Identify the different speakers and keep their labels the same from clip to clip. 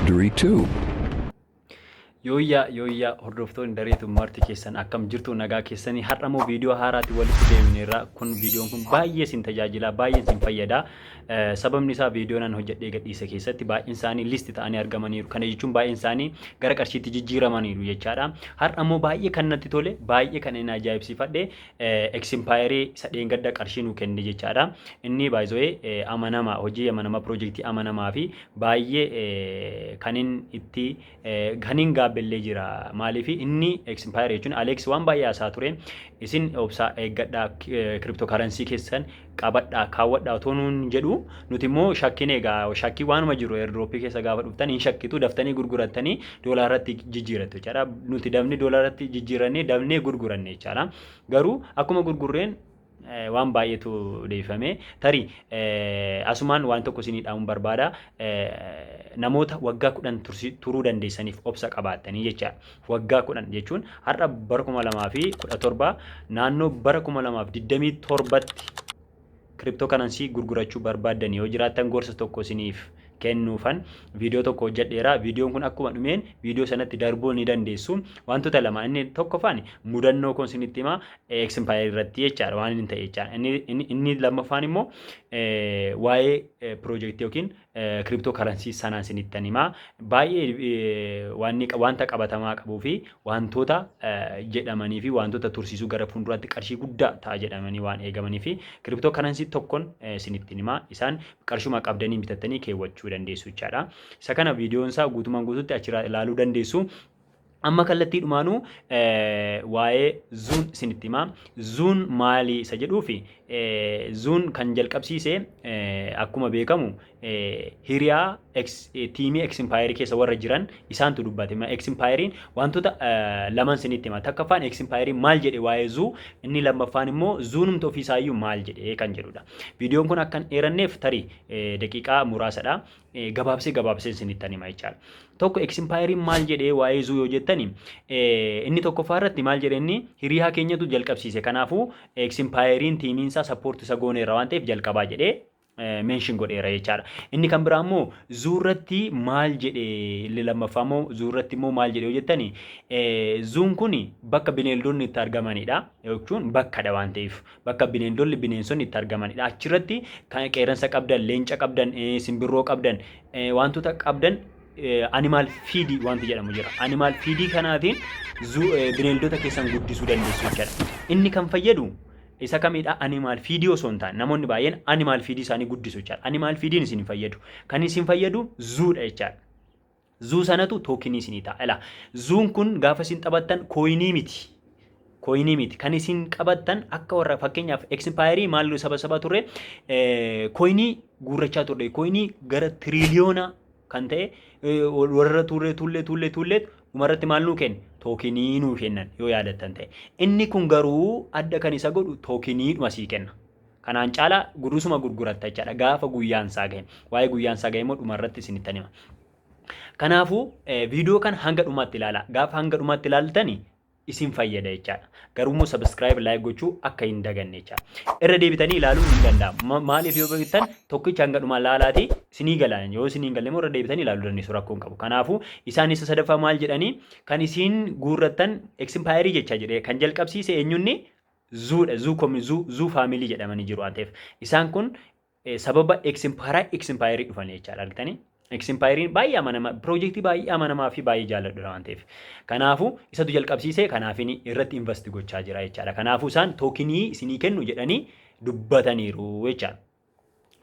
Speaker 1: Durii 2. Yooyyaa
Speaker 2: yooyyaa hordoftoonni dareetu marti keessan akkam jirtu nagaa keessanii har'a immoo viidiyoo haaraatti walitti deebineerra kun viidiyoon kun baay'ee sin tajaajila baay'ee sin fayyada sababni isaa viidiyoo nan hojjedhee gadhiise keessatti baay'een isaanii listi ta'anii argamaniiru kana jechuun baay'een isaanii gara qarshiitti jijjiiramaniiru jechaadha har'a immoo baay'ee kan natti tole baay'ee kan inni ajaa'ibsiifadhe Eksimpaayerii isa dheengadda qarshii nuu kenne jechaadha. Inni baay'ee amanama hojii amanama piroojeektii amanamaa fi baay'ee kanin itti kanin gaabbellee jira. Maaliif inni eksimpaayere jechuun Aleeks waan baay'ee haasaa ture. Isin obsaa eeggadhaa kiriptoo karansii keessan qabadhaa kaawwadhaa otoo nuun jedhu nuti immoo shakkine egaa shakkii waanuma jiru airdrooppii keessa gaafa dhuftan hin shakkitu daftanii gurgurattanii doolaarratti jijjiirattu jechaadha nuti dabni doolaarratti jijjiirannee dabnee gurguranne jechaadha garuu akkuma gurgurreen waan baay'eetu deebifame tarii asumaan waan tokko isinii dhaamuun barbaada namoota waggaa kudhan turuu dandeessaniif obsa qabaattanii jechaadha Waggaa 10 jechuun har'a bara 2017 naannoo bara 2027tti kiriptoo kanansii gurgurachuu barbaaddan yoo jiraattan gorsa tokko isiniif kennuufan viidiyoo tokko hojjedheera. Viidiyoon kun akkuma dhumeen viidiyoo sanatti darbuu ni dandeessu. Wantoota lama inni tokkoffaan mudannoo koon isinitti hima eksimpaayir irratti jechaadha waan inni ta'e jechaadha. Inni lammaffaan immoo waa'ee piroojeektii yookiin crypto currency sanaan sinittan himaa baay'ee wanta qabatamaa qabuu fi wantoota jedhamanii fi wantoota tursiisuu gara fuulduraatti qarshii guddaa ta'a jedhamanii waan eegamanii fi crypto currency tokkon sinittin himaa isaan qarshuma qabdanii bitattanii keewwachuu dandeessu jechaadha. Isa kana viidiyoon isaa guutumaan guututti achirraa ilaaluu dandeessu. Amma kallattii dhumaanuu waa'ee zuun isinitti himaa. Zuun maali isa jedhuufi zuun kan jalqabsiise akkuma beekamu hiriyaa tiimii eksimpaayerii keessa warra jiran isaantu dubbate. Eksimpaayeriin wantoota laman isinitti hima. Takkaffaan eksimpaayeriin maal jedhe waa'ee zuu inni lammaffaan immoo zuunumti ofiisaayyuu maal jedhe kan jedhudha. Viidiyoon kun akkan dheeranneef tarii daqiiqaa muraasadha. gabaabsee gabaabsee isinittan hima jechaadha. Tokko eksimpaayeriin maal jedhee waa'ee zuu yoo jettani inni tokkoffaa irratti maal jedhe inni hiriyaa keenyatu jalqabsiise kanaafuu eksimpaayeriin tiimiin isaa sappoorti isa gooneera waan ta'eef jalqabaa jedhee meenshin godheera jechaadha. Inni kan biraa immoo zuu irratti maal jedhe illi lammaffaa immoo zuu irratti immoo maal jedhe yoo jettani zuun kun bakka bineeldonni itti argamanidha jechuun bakkadha waan ta'eef bakka bineendolli bineensonni itti argamanidha. Achirratti kan qeerransa qabdan, leenca qabdan, eh, simbirroo qabdan, eh, wantoota qabdan eh, animal feed wanti jedhamu jira. Animal feed kanaatiin zu- eh, bineeldota keessan guddisuu dandeessu jechuudha. Inni kan fayyadu isa kamidha animal feed osoo hin taane namoonni baay'een animal feed isaanii guddisu jechuudha. Animal feediin isin hin fayyadu. Kan isin fayyadu zuudha jechuudha. Zuu sanatu tookinii isinii ta'a. Ilaa zuun kun gaafa isin taphattan kooyinii miti. Kooyinii miti. Kan isin qabattan akka warra fakkeenyaaf eksipaayerii maal saba saba turre kooyinii guurrachaa turre. Kooyinii gara tiriiliyoona kan ta'e warra tuullee tuullee tuullee tuullee dhumarratti maal nuu kenna? Tookinii nuu kennan yoo yaadattan ta'e. Inni kun garuu adda kan isa godhu tookiniidhuma sii kenna. Kanaan caala gudusuma gurguratta jechaadha gaafa guyyaan isaa gahe. Waa'ee guyyaan isaa gahe immoo dhuma irratti isinittan hima. Kanaafuu viidiyoo kana hanga dhumaatti ilaala. Gaafa hanga dhumaatti ilaaltani isin fayyada jechaadha. Garuu immoo sabiskiraayib laayik gochuu akka hin daganne jechaadha. Irra deebitanii ilaaluun hin danda'amu. Maaliif yoo beektan tokkicha hanga dhumaa laalaati isinii galaan yoo isinii galle immoo irra deebitanii ilaaluu dandeessu rakkoo hin qabu. Kanaafuu isaan isa sadaffaa maal jedhanii kan isiin guurrattan eksimpaayerii jecha jedhee kan jalqabsiise eenyunni Zuu dha. Zuu komi zuu zuu faamilii jedhamanii jiru waan ta'eef. Isaan kun eh, sababa eksimpaara eksimpaayerii dhufanii jechaadha argitanii. Eksimpaayeriin baay'ee amanamaa piroojeektii baay'ee amanamaa fi baay'ee jaalladhudha waan ta'eef. Kanaafuu isatu jalqabsiisee kanaafin irratti invasti gochaa jira jechaadha. Kanaafuu isaan tookinii isinii kennu jedhanii dubbataniiru jechaadha.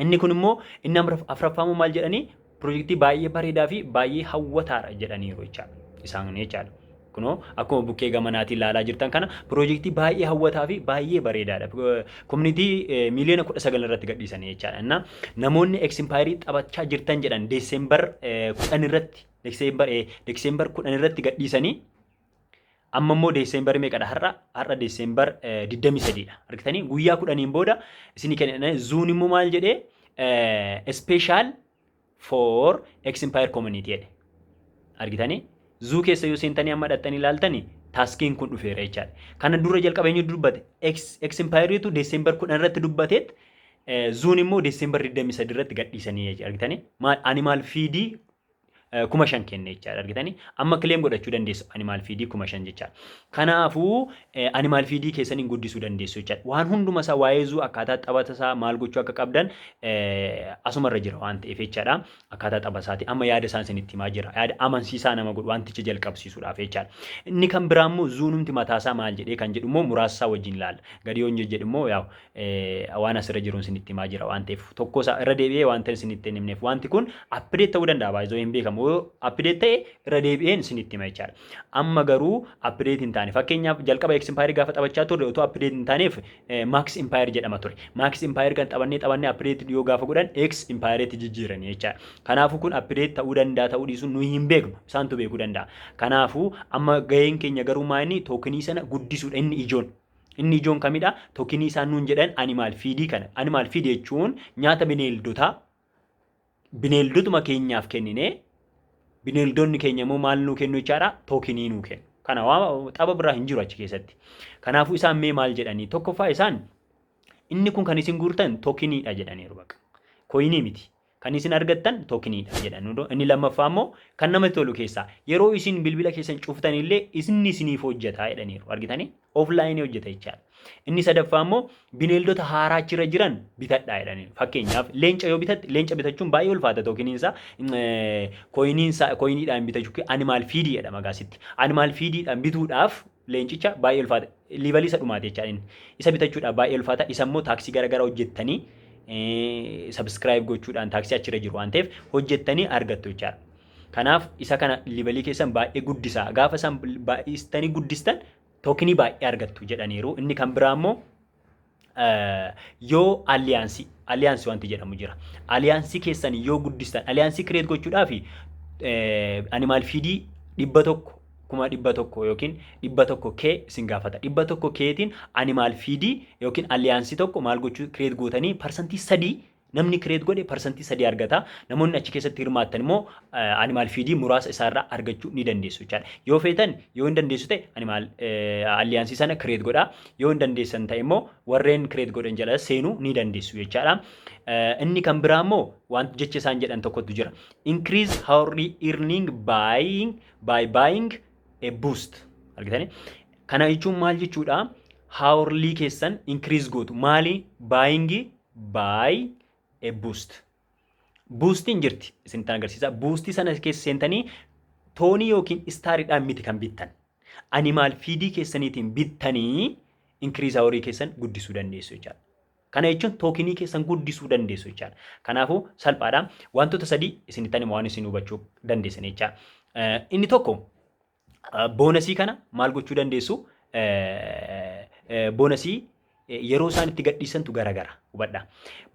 Speaker 2: Inni kun immoo inni afraffaa immoo maal jedhanii pirojektii baay'ee bareedaa fi baay'ee hawwataadha jedhaniiru jechaadha. Isaan jechaadha. Kunoo akkuma bukkee gamanaatiin ilaalaa jirtan kana pirojektii baay'ee hawwataa fi baay'ee bareedaadha. Komunitii miiliyoona kudha sagal irratti gadhiisanii jechaadha. Innaa namoonni eksimpaayirii taphachaa jirtan jedhan deesembar kudhan irratti deesembar kudhan irratti gadhiisanii Amma immoo Deeseembar meeqadha har'a? Har'a Deeseembar 23 dha. Argitanii guyyaa kudhaniin booda isinii kenna. Zuun immoo maal jedhee? Special for Expired Community jedhe. Argitanii? Zuu keessa yoo seentanii amma dhaxxanii ilaaltanii taaskiin kun dhufeera jechaadha. Kana dura jalqaba eenyu dubbate? Expired'tu Deeseembar 10 irratti dubbateet zuun immoo Deeseembar 23 irratti gadhiisanii jechuudha. Argitanii? Maal ani maal fiidii kuma shan kenne jechaadha argitanii amma kileem godhachuu dandeessu animaal fiidii kuma shan jechaadha kanaafuu animaal fiidii keessan hin guddisuu dandeessu jechaadha waan hunduma isaa waa'ee zuu akkaataa taphata isaa maal gochuu akka qabdan asuma irra jira waan ta'eef jechaadha akkaataa tapha isaati amma yaada isaan isinitti himaa jira yaada amansiisaa nama godhu wanticha jalqabsiisuudhaaf jechaadha inni kan biraa immoo zuunumti mataa isaa maal jedhee kan jedhu immoo muraasa isaa wajjin ilaalla gadi yoon jedhu immoo yaa waan asirra jiruun isinitti himaa jira waan ta'eef tokko isaa irra deebi'ee waan ta'e isinitti hin himneef wanti kun appideet ta'uu danda'a baay'ee hin beekamu yoo appideet ta'e irra deebi'een isinitti hima jechaadha. Amma garuu appideet hin taane fakkeenyaaf jalqaba eeks impaayerii gaafa taphachaa turre otoo appideet hin taaneef maaks impaayer jedhama ture. Maaks impaayer kan taphannee taphannee appideet yoo gaafa godhan eeks impaayereetti jijjiiranii jechaadha. Kanaafuu kun appideet ta'uu danda'a ta'uu dhiisuun nuyi hin beeknu isaantu beekuu danda'a. Kanaafuu amma gaheen keenya garuu maa inni tookinii sana guddisuudha inni ijoon. Inni ijoon kamidha? Tokinii isaan nuun jedhan animal feed kana. Animal feed jechuun nyaata bineeldotaa bineeldotuma keenyaaf kennine bineeldonni keenya immoo maal nuu kennu jechaadha? Tokinii nuu kennu. Kana waan xaba biraa hin jiru achi keessatti. Kanaafuu isaan mee maal jedhanii? Tokkoffaa isaan inni kun kan isin guurtan tokiniidha jedhaniiru baqa. Koyinii miti. Kan isin argattan tokeniidha jedha nudo inni lammaffaa immoo kan namatti tolu keessaa yeroo isin bilbila keessan cuftan illee isinni isiniif hojjeta jedhaniiru argitanii offline hojjeta jechaadha inni sadaffaa immoo bineeldota haaraa achirra jiran bitadhaa jedhaniiru fakkeenyaaf leenca yoo bitatte leenca bitachuun baay'ee ulfaata tookiniinsaa koyiniinsaa koyiniidhaan bitachuu animaal fiidii jedhama gaasitti animaal fiidiidhaan bituudhaaf leencicha baay'ee ulfaata liivalii isa dhumaati jechaa inni isa bitachuudhaaf baay'ee ulfaata isa immoo taaksii garaagaraa hojjettanii sabiskiraayib gochuudhaan taaksii achirra jiru waan ta'eef hojjettanii argattu jechaadha. Kanaaf isa kana liivalii keessan baay'ee guddisaa gaafa isaan baay'istanii guddistan tookinii baay'ee argattu jedhaniiru inni kan biraa immoo yoo aliyaansii aliyaansii wanti jedhamu jira. Aliyaansii keessan yoo guddistan aliyaansii kireet gochuudhaaf animaal fiidii dhibba tokko kuma dhibba tokko yookiin dhibba tokko kee isin gaafata. Dhibba tokko keetiin animaal fiidii yookiin aliyaansii tokko maal gochuu kireet gootanii parsantii sadii Namni kireet godhe parsantii sadii argata. Namoonni achi keessatti hirmaattan immoo animaal fiidii muraasa isaarraa argachuu ni dandeessu jechaadha. Yoo feetan yoo hin dandeessu ta'e animaal alliyaansii sana kireet godha. Yoo hin dandeessan ta'e immoo warreen kireet godhan jala seenuu ni dandeessu jechaadha. Inni kan biraa immoo wanti jecha isaan jedhan tokkotu jira. Increase hourly earning buying by buying a boost. Argitanii? Kana jechuun maal jechuudha? Hourly keessan increase gootu. Maali? Buying by a boost. Buustiin jirti isinitti agarsiisa. Buustii sana keessa seentanii toonii yookiin istaariidhaan miti kan bittan. Animaal fiidii keessaniitiin bittanii inkiriisaa horii keessan guddisuu dandeessu jechaadha. Kana jechuun tookinii keessan guddisuu dandeessu jechaadha. Kanaafuu salphaadha. Wantoota sadii isinitti anima waan isin hubachuu dandeessan jechaadha. Inni tokko boonasii kana maal gochuu dandeessu? Boonasii yeroo isaan itti gadhiisantu garagara hubadha.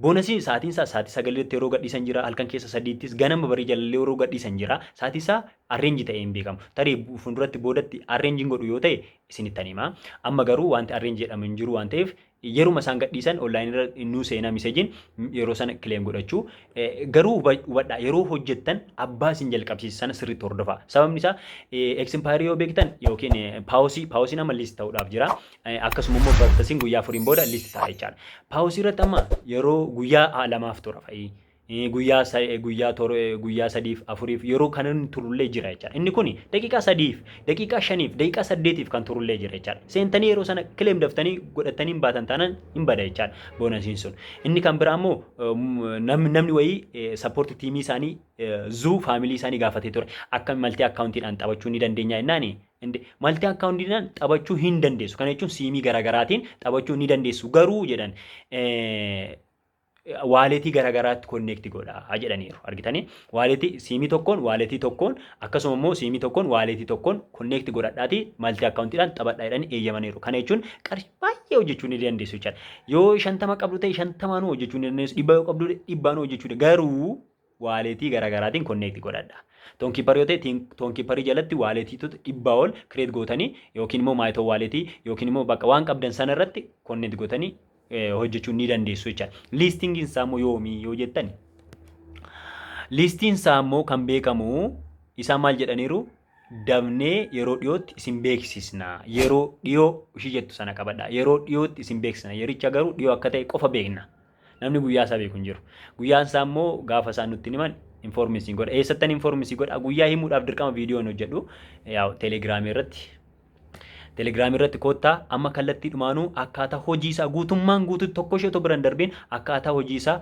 Speaker 2: Boonasii sa'aatiin isaa sa'aatii sagaliitti yeroo gadhiisan jira halkan keessa sadiittis ganama barii jalallee yeroo gadhiisan jira sa'aatii isaa arreenji ta'ee hin beekamu. Tarii fuulduratti boodatti arreenjiin godhu yoo ta'e isinitti hima. Amma garuu wanti arreenji jedhamu hin jiru waan ta'eef Yeruma isaan gadhiisan online irra nuu seenaa miseejiin yeroo sana claim godhachuu. Garuu hubadhaa yeroo hojjettan abbaa isin jalqabsiise sana sirriitti hordofaa. Sababni isaa expiry yoo beektan yookiin paawusii paawusiin amma list ta'uudhaaf jira. Akkasuma immoo bartasiin guyyaa afuriin booda list ta'a jechaadha. Paawusii irratti amma yeroo guyyaa lamaaf tura fa'i. guyyaa sa- eh, guyyaa tor- eh, guyyaa sadiif afuriif yeroo kana inni turullee jira jechaadha. Inni kun daqiiqaa sadiif, daqiiqaa shaniif, daqiiqaa saddeetiif kan turullee jira jechaadha. Seentanii yeroo sana kileem daftanii godhattanii hin baatan taanaan hin bada jechaadha boonasiin sun. Inni kan biraa immoo eh, m- nam- namni wayii eh, sappoorti tiimii isaanii eh, zuu faamilii isaanii gaafatee ture. Akka maltii akkaawuntiidhaan taphachuu ni dandeenya jennaani. Inde- Maltii akkaawuntiidhaan taphachuu hin dandeessu. Kana jechuun siimii garaagaraatiin taphachuu ni dandeessu. Garuu jedhan eh, waaleetii garaagaraatti konneekti godhaa jedhaniiru. Argitanii waaleetii siimii tokkoon waaleetii tokkoon akkasuma immoo siimii tokkoon waaleetii tokkoon konneekti godhadhaatii maltii akkaawuntiidhaan taphadhaa jedhanii eeyyamaniiru. Kana jechuun qarshii baay'ee hojjechuu ni dandeessu jechaadha. Yoo shantama qabdu ta'e shantamaanuu hojjechuu ni dandeessu. Dhibbaa yoo qabdu dhibbaanuu hojjechuu dandeessu. Garuu waaleetii garaagaraatiin konneekti godhadha. Toonkiiparii yoo ta'e toonkiiparii jalatti waaleetiitota dhibbaa ol kireet gootanii yookiin immoo maayitoo waaleetii yookiin immoo bakka waan qabdan sana irratti konneekti gootanii hojjechuu ni dandeessu jecha. Liistingiin isaa immoo yoomii yoo jettan liistiin isaa immoo kan beekamu isaa maal jedhaniiru dabnee yeroo dhiyootti isin beeksisna yeroo dhiyoo ishii jettu sana qabadha yeroo dhiyootti isin beeksisna yericha garuu dhiyoo akka ta'e qofa beekna. Namni guyyaa isaa beeku hin jiru. Guyyaan isaa immoo gaafa isaan nutti himan informi isin godha. Eessattan informi isin godha. Guyyaa himuudhaaf dirqama viidiyoo hin hojjedhu. Yaa'u telegiraamii irratti telegiraamii irratti koottaa amma kallattii dhumaanuu akkaataa hojii isaa guutummaan guututti tokko ishee otoo bira hin darbiin akkaataa hojii isaa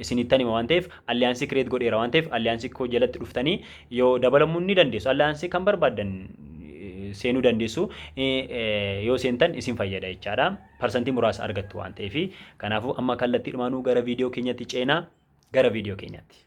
Speaker 2: isinittan hima waan ta'eef alliyaansii kireet godheera waan ta'eef alliyaansii koo jalatti dhuftanii yoo dabalamuu ni dandeessu alliyaansii kan barbaaddan seenuu dandeessu yoo seentan isin fayyada jechaadha. parsantii muraasa argattu waan ta'eef kanaafuu amma kallattiidhumaanuu gara viidiyoo keenyatti ceenaa gara viidiyoo keenyatti.